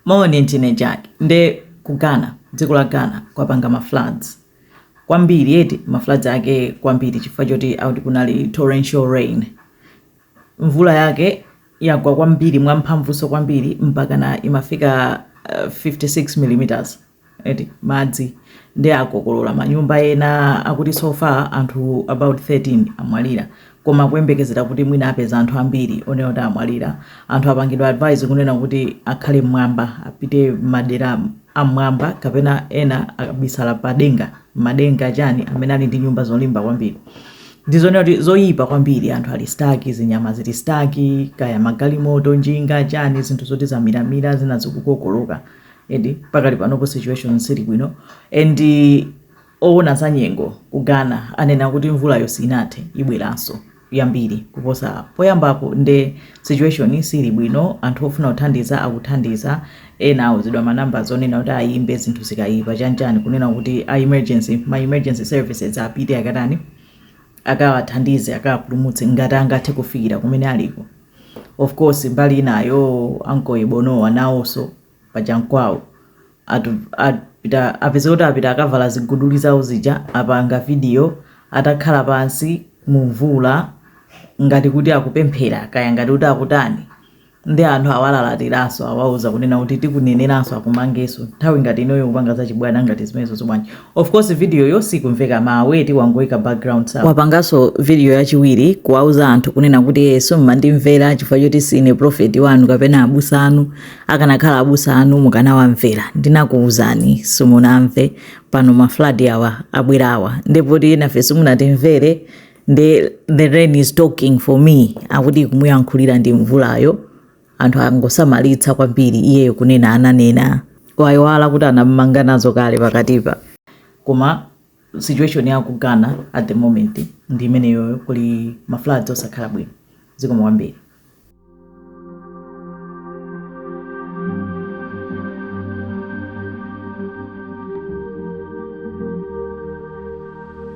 Moni ndine Jack nde ku Ghana dziko la Ghana kwapanga ma floods kwambiri eti ma floods ake kwambiri chifukwa choti akuti kunali torrential rain mvula yake yagwa kwambiri mwamphamvunso kwambiri mpaka imafika uh, 56 millimeters eti madzi nde akokolora manyumba ena akuti so far anthu about 13 amwalira koma kuyembekezera kuti mwina apeza anthu ambiri onena kuti amwalira anthu apangidwa advise kunena kuti akhale m'mwamba apite madera am'mwamba kapena ena akabisala padenga madenga chani amene ali ndi nyumba zolimba kwambiri ndizonena kuti zoyipa kwambiri anthu ali stuck zinyama zili stuck kaya magalimoto njinga chani zinthu zoti zamiramira zina zikukokoloka eti pakali panopo situation sili bwino and owona za nyengo ku Ghana anena kuti mvulayo sinathe ibweranso yambiri kuposa poyambapo nde situation sili bwino anthu ofuna kuthandiza akuthandiza ena auzidwa ma numbers onena kuti ayimbe zinthu zikayipa chanichani kunena kuti a emergency ma emergency services apite akatani akawathandize akawapulumutse ngati angathe kufikira kumene aliko Of course mbali inayo Uncle Ebo Noah nawonso paja nkwawo akuti apita apeza kuti apita akavala ziguduli zawo zija apanga video atakhala pansi mu mvula ngati kuti akupemphera kaya ngati kuti akutani ndi anthu awalalatiranso awauza kunena kuti tikuneneranso akumangenso nthawi ngati inoyo kupanga zachibwana ngati zimenezo zobwanji Of course video yo sikumveka mawu eti wangoika background sound. Wapanganso video yachiwiri kuwauza anthu kunena kuti yes eh, simmandimvera chifukwa choti sine prophet wanu kapena abusa anu akanakhala abusa anu mukanawamvera ndinakuwuzani simunamve pano ma flood awa abwerawa ndipo enafe simunatimvere the, the rain is talking for me akuti kumuyankhulira ndi mvulayo anthu angosamalitsa kwambiri iyeyo kunena ananena waiwala kuti anamumanga nazo kale pakatipa koma situation ya ku Ghana at the moment ndi imeneyo kuli ma floods osakhala bwino zikomo kwambiri